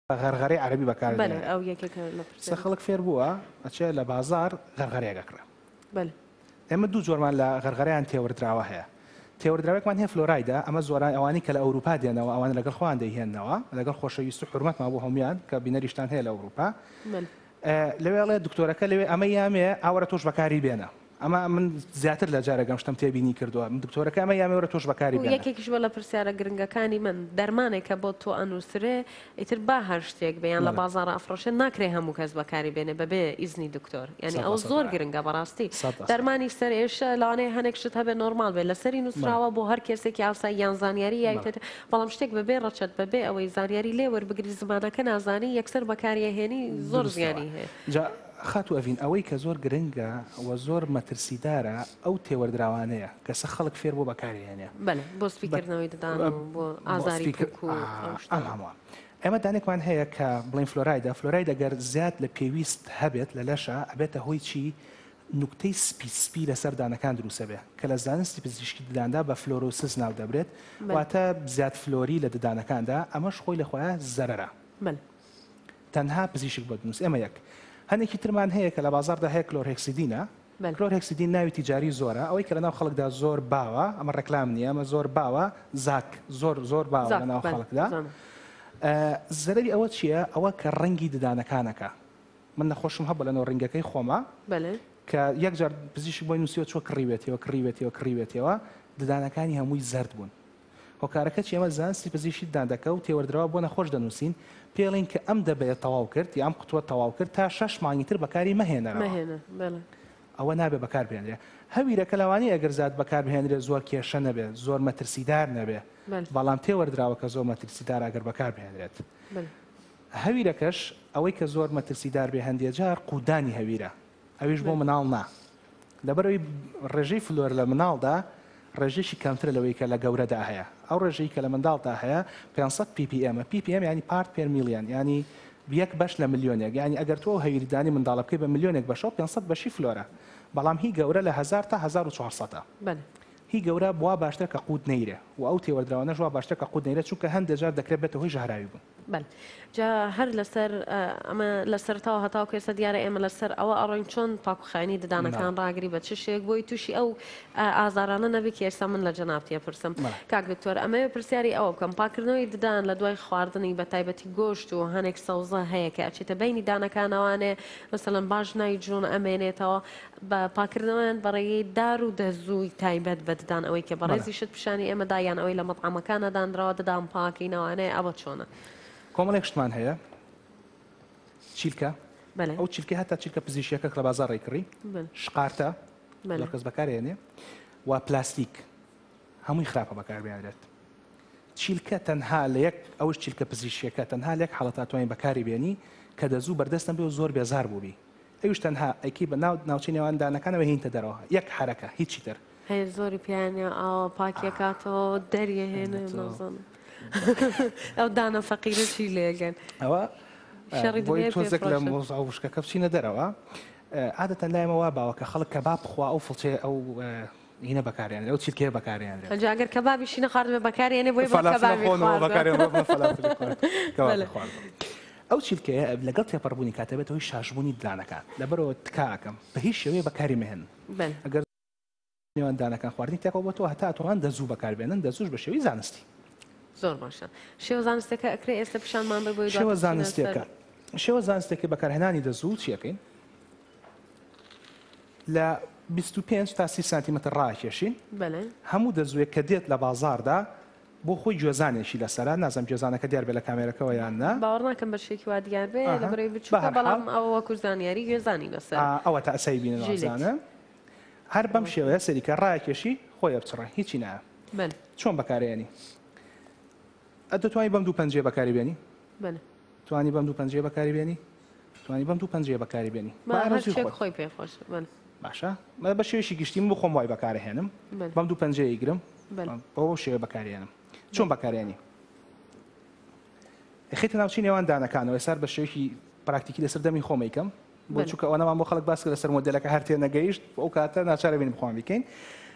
غەرغەرەی عەرەبی بەکار بەلێ دێنێ ئەو یەکێکە لە قسە پرسیارەکان. خەڵک فێر بووە ئەچێ لە بازاڕ غەرغەرەیەک ئەکڕێ بەلێ ئێمە دوو جۆرمان لە غەرغەرەیان تێوەردراوە هەیە تێوەردراوێکمان هەیە فلۆرایدە ئەمە زۆرای ئەوانەی کە لە ئەوروپا دێنەوە ئەوانە لەگەڵ خۆیان دەیهێننەوە لەگەڵ خۆشەویست و حورمەتمان بۆ هەموویان کە بینەریشتان هەیە لە ئەوروپا بەلێ ئێ، لەوێ ئەڵێ دکتۆرەکە لەوێ ئەمە یامێ ئاوەرە تۆش بەکاری بێنە ئەمە من زیاتر لە جارێک ئەم شتەم تێبینی کردووە. دکتۆرەکەی ئەمە یاێ وەرە تۆش بەکاری بێنە. یەکێکیش بووە لە پرسیارە گرنگەکانی من. دەرمانێک کە بۆ تۆ ئەنووسرێ، ئیتر با هەر شتێک بێ یان لە بازاڕ ئەفڕۆشێ، ناکرێ هەموو کەس بەکاری بێنێ بەبێ ئیزنی دکتۆر. یانی ئەوە زۆر گرنگە بەڕاستی. دەرمانی سەرئێشە، لەوانەیە هەنێک شت هەبێ نۆرماڵ بێ، لەسەری نووسراوە بۆ هەر کێسێکی ئاسایی یان زانیاری یای پێ دێ، بەڵام شتێک بەبێ ڕەچەت، بەبێ ئەوەی زانیاری لێ وەربگری، زمانەکە نازانی، یەکسەر بەکاری ئەهێنی، زۆر زیانی هەیە. خاتوو ئەڤین ئەوەی کە زۆر گرنگە و زۆر مەترسیدارە ئەو تێوەردراوانەیە کە سە خەڵک فێر بووە بەکاری هێنێ. بەلێ بۆ سپی کردنەوەی ددان و بۆ ئازاری پوک و ئەو شتانە. ئەم هەمووە. ئێمە دانێکمان هەیە کە بڵێین فلۆرایدە، فلۆراید ئەگەر زیاد لە پێویست هەبێت لە لەشا ئەبێتە هۆی چی؟ نوکتەی سپی سپی لە سەر دانەکان دروست ئەبێ کە لە زانستی پزیشکی دداندا بە فلۆرۆسس ناو دەبرێت واتە زیاد فلۆری لە ددانەکاندا ئەمەش خۆی لە خۆیا زەرەرە. بەلێ. تەنها پزیشک بۆ دەنووسێت ئەمە یەک هەنێکی ترمان هەیە کە لە بازاردا هەیە کلۆرهکسیدینە کلۆرهکسیدین ناوی تجاری زۆرە ئەوەی کە لە ناو خەڵکدا زۆر باوە ئەمە ڕێکلام نییە ئەمە زۆر باوە زاک زۆر زۆر باوە لە ناو خەڵکدا زەرری ئەوە چییە ئەوە کە ڕەنگی ددانەکانەکە من نەخۆشم هەبە لەنەوە ڕنگەکەی خۆمە کە یەکجار پزیشک بۆی نووسیەوە چۆ کڕیوێتەوە کڕیوێتەوە کڕیوێتەوە ددانەکانی هەمووی زرد بوون هۆکارەکە چیە؟ ئێمە زانستی پزیشی ددانەکە و تێوەردراوە بۆ نەخۆش دەنووسین، پێڵین کە ئەم دەبەیەت تەواو کرد یا ئەم قوتوەت تەواو کرد تا شەش مانگی تر بەکاری مەهێنەرەوە. ئەوە نابێت بەکار بهێنرێت. هەویرەکە لەوانەیە ئەگەر زات بەکار بهێنرێت زۆر کێشە نەبێت، زۆر مەترسیدار نەبێت، بەڵام تێوەردراوەکە زۆر مەترسیدارە ئەگەر بەکار بهێنرێت. هەویرەکەش ئەوەی کە زۆر مەترسیدار بێ هەندێ جار قوتدانی هەویرە. ئەویش بۆ مناڵ نا لەبەرەوەی ڕێژەی فلۆر لە مناڵدا ڕێژێکی کەمترە لەوەی کە لە گەورەدا هەیە ئەو ڕێژەی کە لە منداڵدا هەیە 500 PPM PPM ینی پارت پێر میلیان ینی یەک بەش لە ملیۆنێک ینی ئەگەر تۆ هەویریدانی منداڵە بکەی بە ملیۆنێک بەشەوە 500 بەشی فلۆرە بەڵام هی گەورە لە 1000 تا 1400 هی گەورە بوا باشترە کە قووت نەیرێ و ئەو تێوەردراوانەش وا باشترە کە قووت نەیرێ چونکە هەندێک جار دەکرێت بێتە هۆی ژەهراوی بوون. بەل جا هەر لەسەر ئەمە لە سەرتاوە هەتاوکە ئێستا دیارە ئێمە لەسەر ئەوە ئەڕۆین چۆن پاکوخانی ددانەکان ڕاگری بە چ شێک بۆی تووشی ئەو ئازارانە نەبی کە ئێستا من لە جەنابتیە پرسم کاک دکتۆر ئەمەوێ پرسیاری ئەوە بکەم پاکردنەوەی ددان لە دوای خواردنی بە تایبەتی گۆشت و هەنێک سەوزە هەیە کە ئەچێتە بینی دانەکانەوانێ مثلەن باش نای جوون ئەمێنێتەوە بە پاکردنەوەیان بە ڕێگەی دار و دەزووی تایبەت بە ددان ئەوەی کە بەڵێ. بەڕێزی شت پیشانی ئێمە دا یان ئەوەی لە مەتعەمەکانا دانراوە ددان پاکەینەوانێ ئەوە چۆنە؟ کۆمەڵێک شتمان هەیە چیلکە بەلێ. ئەو چیلکەی هەتا چیلکە پزیشیەکە کە لە بازاڕ ڕێی کڕی بەلێ. شقارتە بەلێ. زۆر کەس بەکارێ ئەنێ و پلاستیک هەمووی خراپە بەکار بێنرێت چیلکە تەنها لە یەک ئەوش چیلکە پزیشیەکە تەنها لە یەک حاڵەت هاتوانین بەکاری بێنی کە دەزوو بەردەستم بێ و زۆر بێزار بووبی ئەویش تەنها ئەیکەی بە ناو ناوچەی نێوان دانەکانەوە هێنیتە دەرەوە یەک حەرەکە هیچی تر هەیە زۆری پیانە ئاوا پاکیەکاتەوە دەریە هێنە ئەنە تۆ. نازم ئەو دانە فەقیرەشی لێگەن ئەوە شەڕی بۆی دنیای تۆزێک لە پێفڕۆشە. مۆزە وشکەکە بچینە دەرەوە ئادەتەن لای مەوا باوە کە خەڵک کەباب بخوا ئەو فڵچەیە ئەو هینە بەکارێنرێ و چرکەیە بەکارێنرێت. ئەنجا گەر کەبابیشی نەخواردبێ بەکارێنێ بۆیە بڵێ کەبابی خواردووە. ئەو چرکەیە لەگەڵ تێپەڕبوونی کات دەبێتە هۆی شاشبوونی ددانەکان لەبەرئەوە تکا ئەکەم بە هیچ شێوەیە بەکاری مەهێنن ئەگەر نێوان ددانەکان خواردنی تێکەڵ بۆتەوە هەتا ئەتوانن دەزوو بەکاربێنن دەزووش بە شێوەی زانستی. زۆر باشە شێوە زانستەکە ئەکرێ ئێستا پیشانمان بە بۆی شێوە زانستەکە شێوە زانستەکە بەکارهێنانی دەزوو چیەکەین؟ لە بیست و پێنج تا سی سانتیمەتر ڕاکێشین بەلێ. هەموو دەزووێک کە دێت لە بازاڕدا بۆ خۆی گوێزانێکی لەسەرە نازم گوێزانەکە دیار بێ لە کامێرەکەەوە یان نە باوەڕ ناکەم بە شێکی وا دیار بێ لە بەرەی بچووکە بەڵام ئەوە وەکو زانیاری گوێزانی لەسەر ئەوە تا ئەسای بینەزانە هەر بەم شێوەیە سەریکە ڕاکێشی خۆی ئەبچڕە هیچی نایە چۆن بەکارێنی ئە دەتوانانی بەم دوو پەنجێ بەکاری بێنی توانی بەم دوو پەنجێ بەکاری بێنی توانی بەم دوو پەنجەیە بەکاری بێنی خۆی پێ خۆش باشە مە بە شێوشی گشتیم بۆ خۆم وای بەکارهێنم بەم دوو پەنجەیە گرم بەەوە شێوە بەکارێنم چۆن بەکارێنی خیتە ناوچی نێوان دانەکانەوە سار بە شێوکی پراکتیکی لەسەر دەمی خۆمیکەم بۆ چووکە ئەوەنەمان بۆ خەڵک باس لەسەر مۆدلەکە هەرتێ نەگەیشت ئەو کاتە ناچارە بین بخۆم بکەین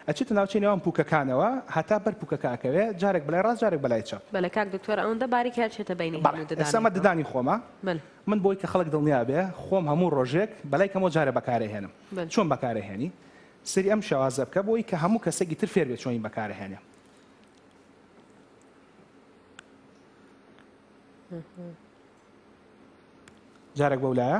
ئەچێتە ناوچەی نێوان پوکەکانەوە هەتا بەر پوکەکەکەوێ جارێک بلای ڕاست جارێک بلای چەپ بەلکاک دکتۆر ئەوەندە باریک هەرچێتە بینی ئەسەمە ددانی خۆمە بەلێ. من بۆی کە خەڵک دڵنیا بێ خۆم هەموو ڕۆژێک بەلای کەمەوە جارێ بەکارئەهێنم بەلێ. چۆن بەکارئەهێنی؟ سەیری ئەم شێوازە بکە بۆی کە هەموو کەسێکی تر فێر بێ چۆنی بەکارئەهێنێ. جارێک بەو لایە.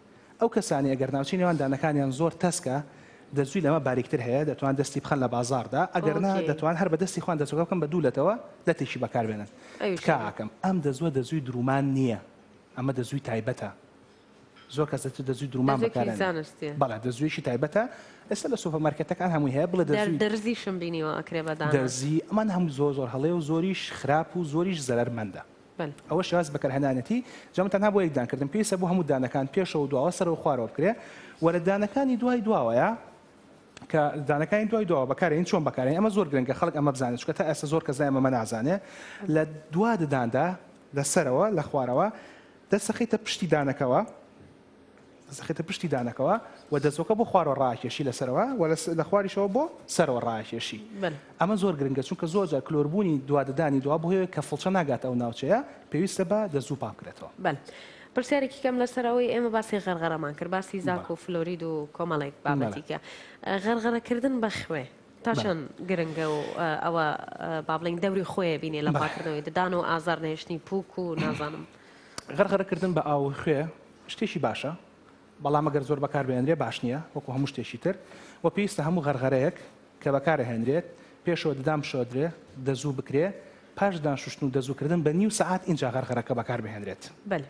ئەو کەسانەی ئەگەر ناوچەی نێوان دانەکانیان زۆر تەسکە دەرزووی لەمە باریکتر هەیە دەتوان دەستی بخەن لە بازاردا ئەگەرنا ئۆکەی دەتوان هەر بە دەستی خۆیان دەرزووەکە بکەن بە دوو لەتەوە لەتێکی بەکاربێنن ئەویش تکا هەیە ئاکەم ئەم دەزووە دەزووی درومان نییە ئەمە دەزووی تایبەتە زۆر کەس دەتو دەزووی درومان دەزێکی بەکارەنێن زانستیە بەڵێ دەزوویەکی تایبەتە ئێستا لە سۆپەرمارکێتەکان هەمووی هەیە بڵێ دەر دەزووی دەرزیشم بینیوە ئەکرێ بە دانە دەرزی ئەمان هەمووی زۆر زۆر هەڵەیە و زۆریش خراپ و زۆریش زەرەرمەندە بن. ئەوەش باس بەکەرهەنانێتی جا من تەنها بۆ یەک دان کردم پێویستە بۆ هەموو دانەکان پێشەوە و دواوە سەرەوە خوارەوە بکرێ وە لە دانەکانی دوای دواوەیە کە دانەکانی دوای دواوە بەکارێن چۆن بەکارێن ئەمە زۆر گرنگە خەڵک ئەمە بزانێت چکە تا ئێستا زۆر کەس لای ئەمە نازانێ لە دوا دداندا لە سەرەوە لە خوارەوە دەسەخیتە پشتی دانەکەوە دەست دەخەیتە پشتی دانەکەوە و دەستۆکە بۆ خوارەوە ڕاکێشی لە سەرەوە و لە خواریشەوە بۆ سەرەوە ڕاکێشی ئەمە زۆر گرنگە چونکە زۆر جار کلۆربوونی دواددانی دوا بۆیە کە فڵچە ناگات ئەو ناوچەیە پێویستە بە دەزوو پاکرێتەوە. پرسیارێکی کەم لەسەر ئەوەی ئێمە باسی غەرغەرەمان کرد باسی زاک و فلۆرید و کۆمەڵێک بابەتیکە غەرغەرەکردن بە خوێ تا چەند گرنگە و ئەوە با بڵین دەوری خۆیە بینێ لە پاکردنەوەی ددان و ئازار نێشتنی پوک و نازانم. غەرغەرە کردن بە ئاو و خوێ شتێکی باشە، بەڵام ئەگەر زۆر بەکاربهێنرێت باش نییە، وەکو هەموو شتێکی تر و پێویستە هەموو غەرغەرەیەک کە بەکارهێنرێت پێشەوە ددان بشۆردرێت، دەزوو بکرێت، پاش ددان شوشتن و دەزوو کردن بە نیو سەعات ئینجا غەرغەرەکە بەکاربهێنرێت. بەلێ.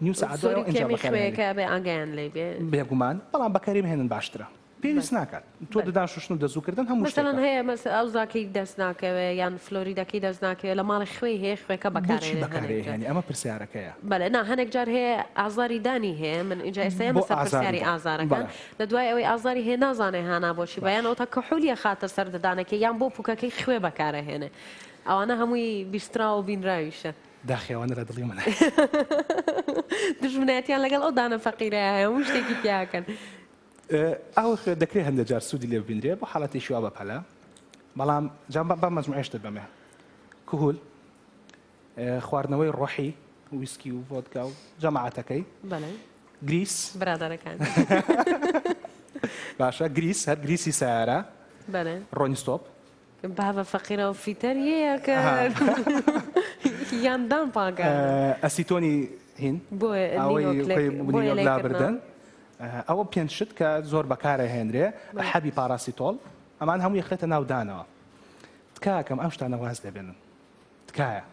نیو سەعات دوایەوە ئینجا بەکارهێنرێت. سووری کێمی خوێیەکە ئەبێ ئاگایان لێی بێ. بێگومان، بەڵام بەکاریبهێنن باشترە. پێویست ناکات تۆ ددانشوشتن و دەزوو کردن هەموو شتێکە. مەسەلەن هەیە مەس ئەوزاکەی دەست ناکەوێ یان فلۆریدەکەی دەست ناکەوێ لە ماڵێ خوێی هەیە خوێکە بەکارێنێ هەنێک جار. بۆچی بەکارێ هێنی ئەمە پرسیارەکەیە. بەلێ نا هەنێک جار هەیە ئازاری دانی هەیە من ئینجا ئێستا یەمە سەر پرسیاری ئازارەکە لە دوای ئەوەی ئازاری هەیە نازانێ هانا بۆچی بە یان ئەوتا کحولی ئەخاتە سەر ددانەکەی یان بۆ پوکەکەی خوێ بەکارە هێنێ ئەوانە هەمووی بیستراو و بینراویشە. داخی ئەوانە لە دڵی منە. دوژمنایەتیان لەگەڵ ئەو دانە فەقیرەیە هەیە هەموو شتێکی تیاکەن. ئاوی خوێ دەکرێت هەندێک جار سوودی لێ ببینرێت بۆ حاڵەتێکی وا بەپەلە بەڵام جام بە مەجموعێش دەبەمێ کهول خواردنەوەی ڕۆحی ویسکی و ڤۆدکا و جەماعەتەکەی گریس برادەرەکان باشە گریس هەر گریسی سارە ڕۆنیستۆپ بابە فەقیرە و فیتەر یەیە کە یان دان پاکانە. ئەسیتۆنی هین ئەوەی خۆی نینۆک لابردن. ئەوە پێنج شت کە زۆر بەکار ئەهێنرێ، حەبی پاڕاسیتۆڵ، ئەمان هەموو ئەخرێتە ناو دانەوە. تکاکەم ئەم شتانە واز لێ بێنن. تکایە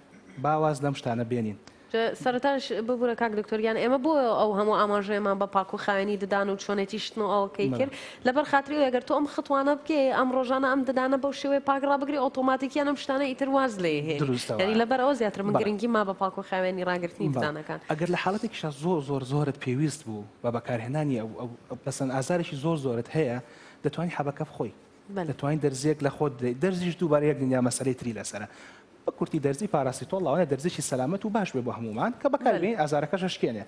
با واز لەم شتانە بێنین. سەرەتاش ببورە کاک دکتۆر گیان ئێمە بۆ ئەو هەموو ئاماژەیەمان بە پاک و خاوێنی ددان و چۆنێتی شتن و ئەوکەی کرد لەبەر خاتری ئەوەی گەر تۆ ئەم خطوانە بکەی ئەم ڕۆژانە ئەم ددانە بەو شێوەیە پاک ڕابگری ئۆتۆماتیکیان ئەم شتانە ئیتر واز لێ هێنی دروستە وایە یانی لەبەر ئەوە زیاتر من بەڵێ گرنگیم ما بە پاک و خاوێنی ڕاگرتنی بەڵێ ددانەکان. ئەگەر لە حاڵەتێکیشا زۆر زۆر زۆرت پێویست بوو بە بەکارهێنانی ئەو ئەو پەسەند ئازارێکی زۆر زۆرت هەیە دەتوانی حەبەکە بخۆی دەتوانی دەرزیەک لە خۆت بدەیت دەرزیش دووبارە یەک دنیا مەسەلەی تری لەسەرە بە کورتی دەرزی پاراستیتۆڵ لاوانە دەرزیی سەلامەت و باش بێ بۆ هەموومان کە بەکاربین ئازارەکەش ئەشکێنێ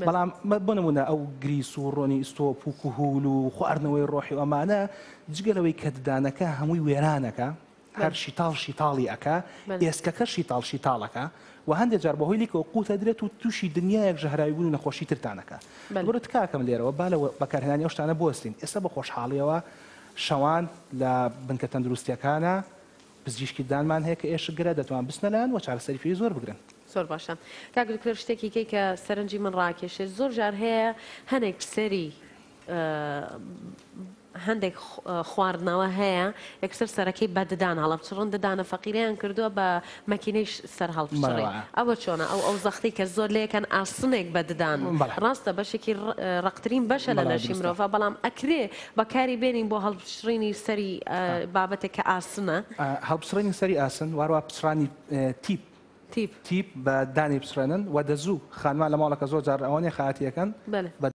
بەڵام بۆ نمونە ئەو گریس و ڕۆنی ئیستۆپ و کوهول و خواردنەوەی ڕۆحی و ئەمانە جگە لەوەی کە ددانەکە هەمووی وێرانەکە هەر شیتاڵ شیتاڵی ئەکا ئێسکەکە شیتاڵ شیتاڵەکە و هەندێک جار بەهۆی لیکەوە قوتە درێت و تووشی دنیایەک ژەهراوی بوون و نەخۆشی ترتانەکە بەرە تکاکەم لێرەوە با لە بەکارهێنانی ئەو شتانە بوەستین ئێستا بە خۆشحاڵیەوە شەوان لە بنکە تەندروستییەکانە پزیشکیدانمان هەیە کە ئێشکگرە دەتوان بچنە لایان و چارەسەری پێویست وەربگرن. زۆر باشە کاک دکتۆر شتێکی کەی کە سەرنجی من ڕاکێشێت زۆر جار هەیە هەنێک سەری هەندێک خواردنەوە هەیە یەکسەر سەرەکەی بە ددان هەڵەبچڕن ددانە فەقیرەیان کردووە بە مەکینەیش سەر هەڵپچڕی بەڕەوە. ئەوە چۆنە ئەو ئەو زەختی کە زۆر لێکەن ئاسنێک بە ددان بەڵێ. ڕاستە بەشێکی ڕ ڕەقترین بەشە لە بەڵێ لەشی دروستە. مرۆڤ بەڵام ئەکرێ بەکاری بێنین بۆ هەڵپچڕینی سەری ئە ئا. بابەتێک کە ئاسنە. ئا هەڵپچڕینی سەری ئاسن واروا پچڕانی ئێ تیپ تیپ. تیپ بە دانی پچڕێنن وە دەزوو خانمان لە ماڵەکە زۆر جار ئەوە نیە خەئاتی ئەکەن بەلێ. بە.